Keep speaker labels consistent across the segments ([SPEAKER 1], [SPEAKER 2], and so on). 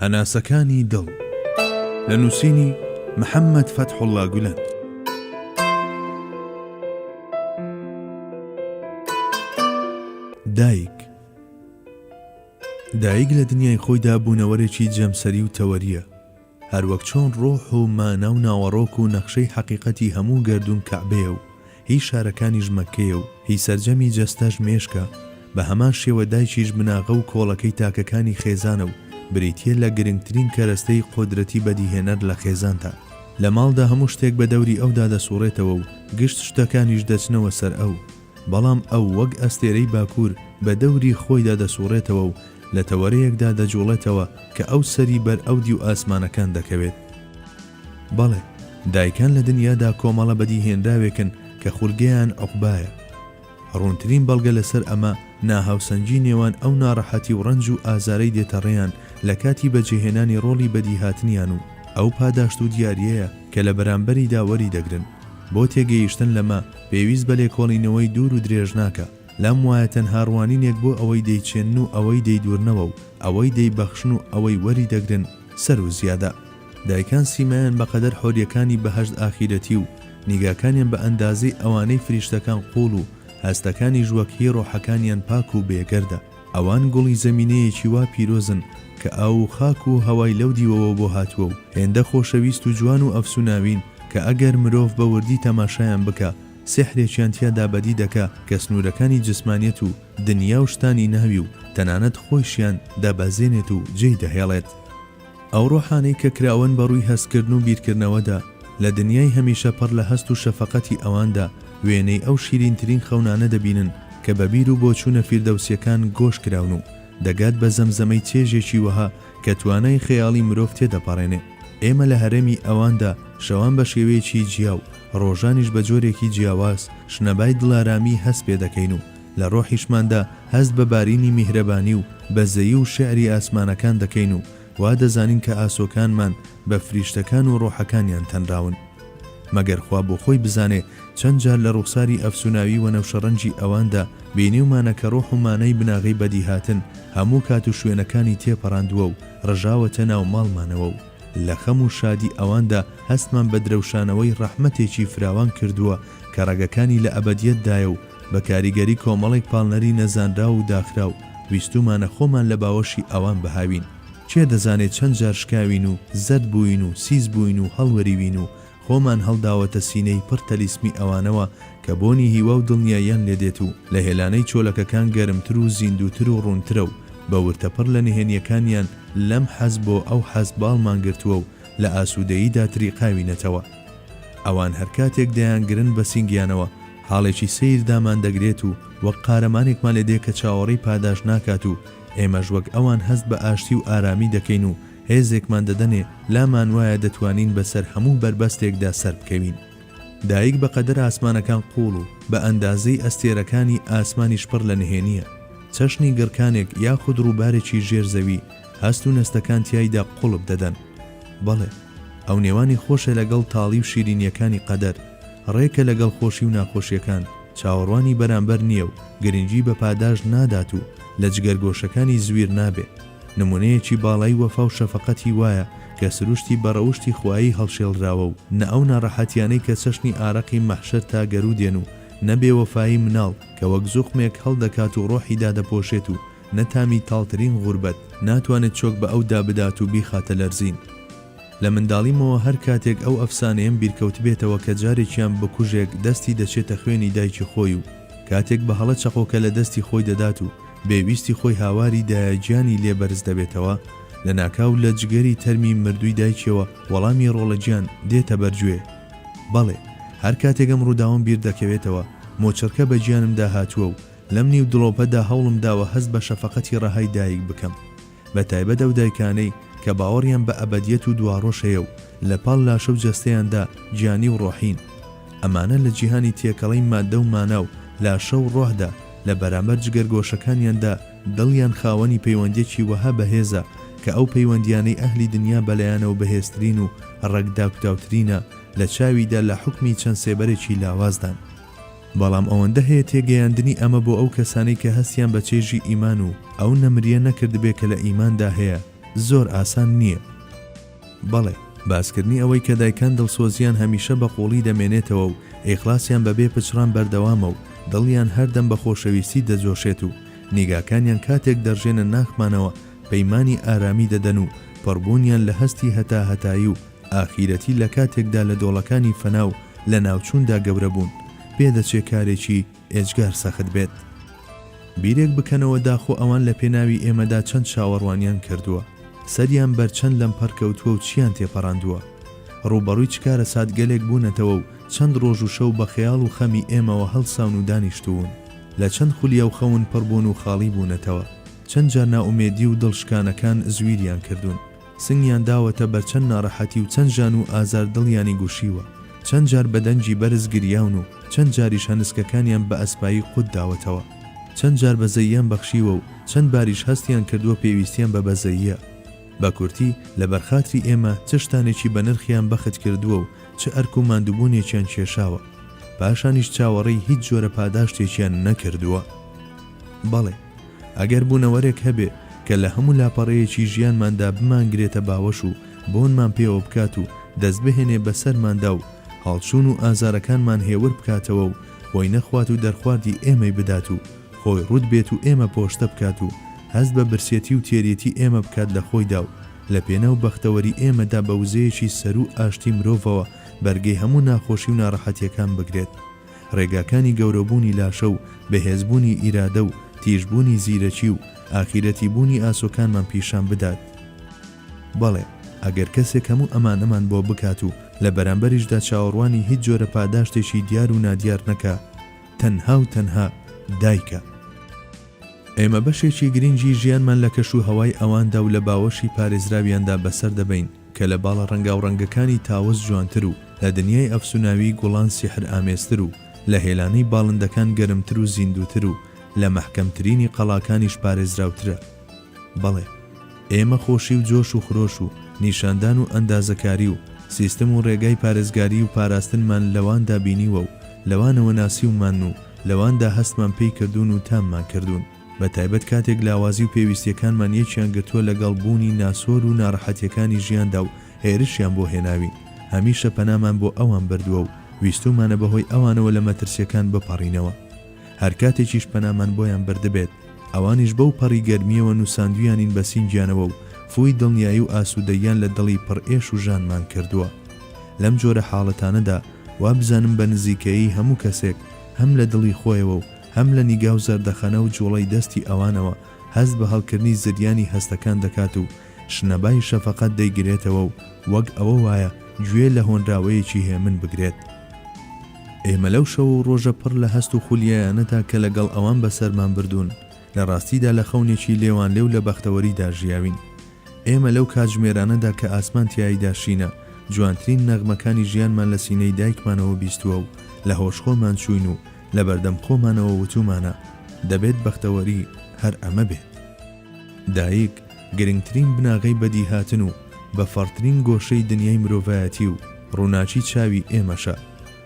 [SPEAKER 1] هەناسەکانی دڵ، لە نووسینی، محەممەد فەتحوڵڵا گولەن. دایک، دایک لە دنیای خۆیدا بوونەوەرێکی جەمسەری و تەوەرییە، هەروەک چۆن ڕۆح و مانا و ناوەڕۆک و نەخشەی حەقیقەتی هەموو گەردوون کەعبەیە و هی شارەکانیش مەککەیە و هی سەرجەمی جەستەش مێشکە، بە هەمان شێوە دایکیش بناغە و کۆڵەکەی تاکەکانی خێزانە و بریتییە لە گرنگترین کەرەستەی قودرەتی بەدیهێنەر لە خێزاندا. لە ماڵدا هەموو شتێک بە دەوری ئەودا دەسوڕێتەوە و گشت شتەکانیش دەچنەوە سەر ئەو، بەڵام ئەو وەک ئەستێرەی باکوور بە دەوری خۆیدا دەسوڕێتەوە و لە تەوەرەیەکدا دەجوڵێتەوە کە ئەو سەری بەر ئەودیو ئاسمانەکان دەکەوێت. بەڵێ، دایکان لە دنیادا کۆمەڵە بەدیهێنراوێکن کە خولگەیان عوقبایە. ڕوونترین بەڵگە لەسەر ئەمە ناهاوسەنگی نێوان ئەو ناڕەحەتی و ڕەنج و ئازارەی دێتە ڕێیان لە کاتی بەجێهێنانی ڕۆڵی بەدیهاتنیان و ئەو پاداشت و دیارییەیە کە لە بەرامبەریدا وەریدەگرن. بۆ تێگەیشتن لەمە پێویست بە لێکۆڵینەوەی دوور و درێژ ناکا. لام وایە تەنها ڕوانینێک بۆ ئەوەی دەیچێنن و ئەوەی دەیدورنەوە و ئەوەی دەیبەخشن و ئەوەی وەریدەگرن سەروو زیادە. دایکان سیمایان بە قەدەر حۆریەکانی بەهەشت ئاخیرەتی و نیگاکانیان بە ئەندازەی ئەوانەی فریشتەکان قوڵ و هەستەکانیش وەک هی ڕۆحەکانیان پاک و بێگەردە. ئەوان گوڵی زەمینەیەکی وا پیرۆزن کە ئاو و خاک و هەوای لەو دیوەوە بۆ هاتووە و هێندە خۆشەویست و جوان و ئەفسوناوین کە ئەگەر مرۆڤ بە وردی تەماشایان بکا سیحرێکیان تیادا بەدی دەکا کە سنوورەکانی جسمانیەت و دنیا و شتانی ناوی و تەنانەت خۆیشیان دابەزێنێت و جێی دەهێڵێت. ئەو ڕۆحانەی کە کراوەن بە ڕووی هەستکردن و بیرکردنەوەدا، لە دنیای هەمیشە پڕ لە هەست و شەفەقەتی ئەواندا، وێنەی ئەو شیرینترین خەونانە دەبینن کە بە بیر و بۆچوونە فیردەوسییەکان گۆش کراون و دەگات بە زەمزەمەی چێژێکی وەها کە توانای خەیاڵی مرۆڤ تێدەپەڕێنێ. ئێمە لە هەرێمی ئەواندا، شەوان بە شێوەیەکی جیا و ڕۆژانیش بە جۆرێکی جیاواز، شنەبای دڵارامیی هەست پێ دەکەین و لە ڕۆحیشماندا هەست بە بارینی میهرەبانی و بەزەیی و شیعری ئاسمانەکان دەکەین و وا دەزانین کە ئاسۆکانمان بە فریشتەکان و ڕۆحەکانیان تەنراون. مەگەر خوا بۆ خۆی بزانێ چەند جار لە ڕوخساری ئەفسوناوی وەنەوشەڕەنگی ئەواندا بینیومانە کە ڕۆح و مانای بناغەی بەدیهاتن هەموو کات و شوێنەکانی تێپەڕاندووە و ڕژاوەتە ناو ماڵمانەوە و لە خەم و شادی ئەواندا هەستمان بە درەوشانەوەی ڕەحمەتێکی فراوان کردووە کە ڕەگەکانی لە ئەبەدیەتدایە و بە کاریگەری کۆمەڵێک پاڵنەری نەزانراو و داخراو، ویستوومانە خۆمان لە باوەشی ئەوان بهاوین. کێ دەزانێ چەند جار شکاوین و زەرد بووین و سیس بووین و هەڵوەریوین و خۆمان هەڵداوەتە سینەی پڕ تەلیسمی ئەوانەوە کە بۆنی هیوا و دڵنیاییان لێ دێت و لە هێلانەی چۆلەکەکان گەرمتر و زیندووتر و ڕوونترە و بە ورتە پڕ لە نهێنییەکانیان لەم حەز بۆ ئەو حەز باڵمان گرتووە و لە ئاسوودەییدا تریقاوینەتەوە. ئەوان هەر کاتێک دەیانگرن بە سینگیانەوە، حاڵێکی سەیر دامان دەگرێت و وەک قارەمانێکمان لێ دێ کە چاوەڕێی پاداشت ناکات و ئێمەش وەک ئەوان هەست بە ئاشتی و ئارامی دەکەین و هێزێکمان دەدەنێ لامان وایە دەتوانین بە سەر هەموو بەربەستێکدا سەر بکەوین. دایک بە قەدەر ئاسمانەکان قووڵ و بە ئەندازەی ئەستێرەکانی ئاسمانیش پڕ لە نهێنییە. چەشنی گڕکانێک یاخود ڕووبارێکی ژێر زەوی هەست و نەستەکان تیایدا قوڵپ دەدەن. بەڵێ، ئەو نێوانی خۆشە لەگەڵ تاڵی و شیرینییەکانی قەدەر، ڕێکە لەگەڵ خۆشی و ناخۆشییەکان، چاوەڕوانی بەرامبەر نییە و گرنگی بە پاداشت نادات و لە جگەرگۆشەکانی زویر نابێ. نموونەیەکی باڵای وەفا و شەفەقەتی وایە کە سروشتی بە ڕەوشتی خوایی هەڵشێڵراوە و نە ئەو ناڕەحەتییانەی کە چەشنی ئارەقی مەحشەر تا گەروو دێن و نە بێوەفایی مناڵ کە وەک زوقمێک هەڵدەکات و ڕۆحی دادەپۆشێت و نە تامی تاڵترین غوربەت ناتوانێت چۆک بە ئەو دا بدات و بیخاتە لەرزین. لە منداڵیمەوە هەر کاتێک ئەو ئەفسانەیەم بیرکەوتبێتەوە کە جارێکیان بکوژێک دەستی دەچێتە خوێنی دایکی خۆی و کاتێک بە هەڵە چەقۆکە لە دەستی خۆی دەدات و بێ ویستی خۆی هاواری دایە گیانی لێ بەرز دەبێتەوە لە ناکاو لە جگەری تەرمی مردووی دایکیەوە وەڵامی ڕۆڵە گیان دێتە بەر گوێ. بەڵێ هەر کاتێک ئەم ڕووداوەم بیردەکەوێتەوە مۆچڕکە بە گیانمدا هاتووە و لەم نیو دڵۆپەدا هەوڵم داوە هەست بە شەفەقەتی ڕەهای دایک بکەم، بە تایبەت ئەو دایکانەی کە باوەڕیان بە ئەبەدیەت و دواڕۆژ هەیە و لە پاڵ لاشە و جەستەیاندا گیانی و ڕۆحین. ئەمانە لە جیهانی تێکەڵەی ماددە و مانا و لاشە و ڕۆحدا لە بەرامبەر جگەرگۆشەکانیاندا دڵیان خاوەنی پەیوەندیەکی وەها بەهێزە کە ئەو پەیوەندیانەی ئەهلی دنیا بەلایانەوە بەهێزترین و ڕەگ داکوتاوترینە لە چاویدا لە حوکمی چەند سێبەرێکی لاوازدان. بەڵام ئەوەندە هەیە تێگەیاندنی ئەمە بۆ ئەو کەسانەی کە هەستیان بە چێژی ئیمان و ئەو نەمرییە نەکردبێ کە لە ئیماندا هەیە زۆر ئاسان نییە. بەڵێ، باسکردنی ئەوەی کە دایکان دڵسۆزییان هەمیشە بە قووڵی دەمێنێتەوە و ئیخلاسیان بە بێ پچڕان بەردەوامە و دڵیان هەردەم بە خۆشەویستی دەجۆشێت و نیگاکانیان کاتێک دەڕژێنە ناخمانەوە پەیمانی ئارامی دەدەن و پڕبوونیان لە هەستی هەتاهەتایی و ئاخیرەتی لە کاتێکدا لە دۆڵەکانی فەنا و لەناوچووندا گەورە بوون، پێ دەچێ کارێکی ئێجگار سەخت بێت. بیرێک بکەنەوە داخۆ ئەوان لە پێناوی ئێمەدا چەند چاوەڕوانیان کردووە، سەریان بەر چەند لەمپەر کەوتووە و چییان تێپەڕاندووە، ڕووبەڕووی چ کارەساتگەلێک بوونەتەوە و چەند ڕۆژ و شەو بە خەیاڵ و خەمی ئێمەوە هەڵساون و دانیشتوون، لە چەند خولیا و خەون پڕ بوون و خاڵی بوونەتەوە، چەند جار نائومێدی و دڵ شکانەکان زویریان کردوون. سنگیان داوەتە بەر چەند ناڕەحەتی و چەند ژان و ئازار دڵیانی گوشیوە، چەند جار بە دەنگی بەرز گریاون و چەند جاریش هەنسکەکانیان بە ئەسپایی قوت داوەتەوە، چەند جار بەزەییان بەخشیوە و چەند باریش هەستیان کردووە پێویستیان بە بەزەییە. بە کورتی، لە بەر خاتری ئێمە چ شتانێکی بە نرخیان بەخت کردووە و چ ئەرک و ماندووبوونێکیان کێشاوە. پاشانیش چاوەڕێی هیچ جۆرە پاداشتێکیان نەکردووە. بەڵێ! ئەگەر بوونەوەرێک هەبێ کە لە هەموو لاپەڕەیەکی ژیانماندا بمانگرێتە باوەش و بۆنمان پێوە بکات و دەست بهێنێ بە سەرماندا و هەڵچوون و ئازارەکانمان هێور بکاتەوە و خۆی نەخوات و دەرخواردی ئێمەی بدات و خۆی ڕووت بێت و ئێمە پۆشتە بکات و هەست بە برسێتی و تێریێتی ئێمە بکات لە خۆیدا و لە پێناو بەختەوەری ئێمەدا بە وزەیەکی سەروو ئاشتی مرۆڤەوە بەرگەی هەموو ناخۆشی و ناڕەحەتیەکان بگرێت. ڕێگاکانی گەورەبوونی لاشە و بەهێزبوونی ئیرادە و تیژبوونی زیرەکی و ئاخیرەتی بوونی ئاسۆکانمان پیشان بدات. بەڵێ، ئەگەر کەسێک هەموو ئەمانەمان بۆ بکات و لە بەرامبەریشدا چاوەڕوانی هیچ جۆرە پاداشتێکی دیار و نادیار نەکا، تەنها و تەنها دایکە. ئێمە بەشێکی گرنگی ژیانمان لە کەش و هەوای ئەواندا و لە باوەشی پارێزراویاندا بەسەر دەبەین، کە لە باڵە ڕەنگاوڕەنگەکانی تاوس جوانتر و لە دنیای ئەفسوناویی گوڵان سیحرئامێزتر و لە هێلانەی باڵندەکان گەرمتر و زیندووتر و لە مەحکەمترینی قەڵاکانیش پارێزراوترە. بەڵێ، ئێمە خۆشی و جۆش و خرۆش و نیشاندان و ئەندازەکاری و سیستم و ڕێگای پارێزگاریی و پاراستنمان لەواندا بینیوە و لەوانەوە ناسیومانن و لەواندا هەستمان پێی کردوون و تاممان کردوون. بە تایبەت کاتێک لاوازی و پێویستیەکانمان یەکیان گرتووە لە گەڵ بوونی ناسۆر و نارەحەتیەکانی ژیاندا و هێرشیان بۆ هێناوین، هەمیشە پەنامان بۆ ئەوان بردووە و ویستوومانە بە هۆی ئەوانەوە لە مەترسیەکان بپەڕینەوە. هەر کاتێکیش پەنامان بۆیان بردبێت، ئەوانیش بەو پەڕی گەرمیەوە نوساندویانین بە سینگیانەوە و فووی دڵنیایی و ئاسوودەییان لە دڵی پڕ ئێش و ژانمان کردووە. لەم جۆرە حاڵەتانەدا وابزانم بە نزیکەیی هەموو کەسێک هەم لە دڵی خۆیەوە و هەم لە نیگا و زەردەخەنە و جوڵەی دەستی ئەوانەوە هەست بە هەڵکردنی زریانی هەستەکان دەکات و شنەبای شەفەقەت دەیگرێتەوە و وەک ئەوە وایە گوێ لە هۆنراوەیەکی هێمن بگرێت. ئێمە لەو شەو و ڕۆژە پڕ لە هەست و خولیایانەدا کە لەگەڵ ئەوان بەسەرمان بردوون، لە ڕاستیدا لە خەونێکی لێوانلێو لە بەختەوەریدا ژیاوین. ئێمە لەو کاتژمێرانەدا کە ئاسمان تیاییدا شینە، جوانترین نەغمەکانی ژیانمان لە سینەی دایکمانەوە بیستووە و لە هۆشخۆرمان چووین و لەبەردەم خۆمانەوە وتومانە دەبێت بەختەوەری هەر ئەمە بێت. دایک گرنگترین بناغەی بەدیهاتن و بە فەڕترین گۆشەی دنیای مرۆڤایەتی و ڕووناکی چاوی ئێمەشە،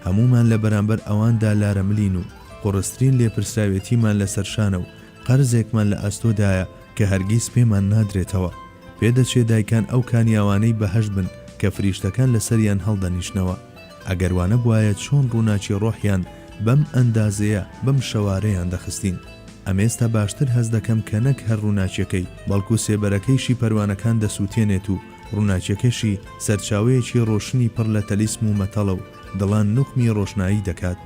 [SPEAKER 1] هەموومان لە بەرامبەر ئەواندا لارەملین و قوڕسترین لێپرسراوێتیمان لەسەر شانە و قەرزێکمان لە ئەستۆدایە کە هەرگیز پێمان نادرێتەوە، پێدەچێ دایکان ئەو کانیاوانەی بەهەشت بن کە فریشتەکان لەسەریان هەڵدەنیشنەوە. ئەگەر وانەبوایە چۆن ڕووناکی ڕۆحیان بەم ئەندازەیە بەم شەوارەیان دەخستین؟ ئەمێستا باشتر هەست دەکەم کە نەک هەر ڕووناکیەکەی بەڵکو سێبەرەکەیشی پەروانەکان دەسوتێنێت و ڕووناکیەکەشی سەرچاوەیەکی ڕۆشنی پڕ لە تەلیسم و مەتەڵە و دڵان نوقمی ڕۆشنایی دەکات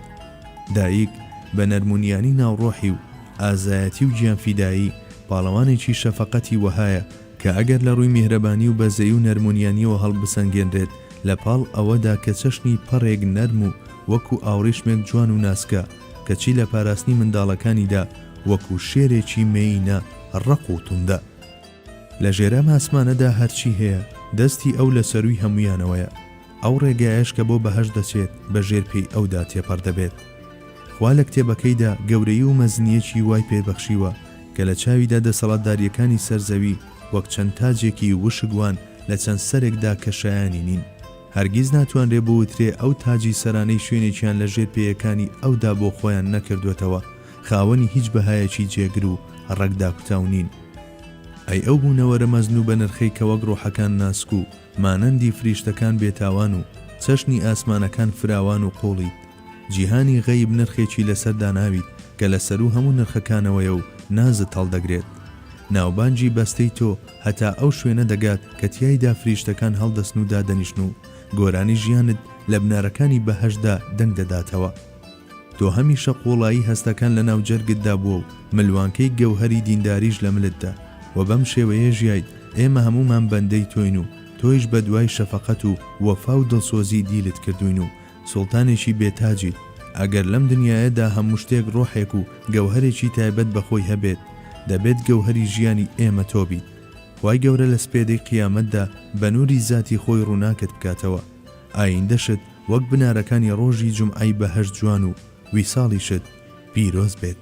[SPEAKER 1] دایک بە نەرمونیانی ناو ڕۆحی و ئازایەتی و گیانفیدایی پاڵەوانێکی شەفەقەتی وەهایە کە ئەگەر لە ڕووی میهرەبانی و بەزەیی و نەرمونیانیەوە هەڵبسەنگێنرێت لە پاڵ ئەوەدا کە چەشنی پەڕێک نەرم و وەکو ئاوڕیشمێک جوان و ناسکە کەچی لە پاراستنی منداڵەکانیدا وەکو شێرێکی مێیینە ڕەق و توندە لە ژێرئەم ئاسمانەدا هەرچی هەیە دەستی ئەو لە سەرووی هەموویانەوەیە. ئەو ڕێگایەش کە بۆ بەهەشت دەچێت بە ژێر پێی ئەودا تێپەڕ دەبێت. خوا لە کتێبەکەیدا گەورەیی و مەزنییەکی وای پێ بەخشیوە کە لە چاویدا دەسەڵاتدارییەکانی سەر زەوی وەک چەند تاجێکی وشک وان لە چەند سەرێکدا کە شایانی نین. هەرگیز ناتوانرێ بوترێ ئەو تاجی سەرانەی شوێنێکیان لە ژێر پێیەکانی ئەودا بۆ خۆیان نەکردووەتەوە خاوەنی هیچ بەهایەکی جێگر و ڕەگ داکوتاو نین. ئەی ئەو بوونەوەرە مەزن و بەنرخەی کە وەک ڕۆحەکان ناسک و مانەندی فریشتەکان بێتاوان و چەشنی ئاسمانەکان فراوان و قووڵیت، جیهانی غەیب نرخێکی لەسەر داناویت کە لە سەروو هەموو نرخەکانەوەیە و نازت هەڵدەگرێت. ناوبانگی بەستەی تۆ هەتا ئەو شوێنە دەگات کە تیایدا فریشتەکان هەڵدەسن و دادەنیشن و گۆرانی ژیانت لە بنارەکانی بەهەشتدا دەنگ دەداتەوە. تۆ هەمیشە قوڵایی هەستەکان لە ناو جەرگتدا بووە و ملوانکەی گەوهەری دینداریش لە ملتدا و بەم شێوەیە ژیایت، ئێمە هەموومان بەندەی تۆین و تۆیش بە دوای شەفەقەت و وەفا و دڵسۆزی دیلت کردووین و سوڵتانێکی بێ تاجیت، ئەگەر لەم دنیایەدا هەموو شتێک ڕۆحێک و گەوهەرێکی تایبەت بە خۆی هەبێت، دەبێت گەوهەری ژیانی ئێمە تۆ بیت. خوای گەورە لە سپێدەی قیامەتدا بە نووری زاتی خۆی ڕووناکت بکاتەوە. ئایندەشت وەک بنارەکانی ڕۆژی جومعەی بەهەشت جوان و ویساڵیشت پیرۆز بێت.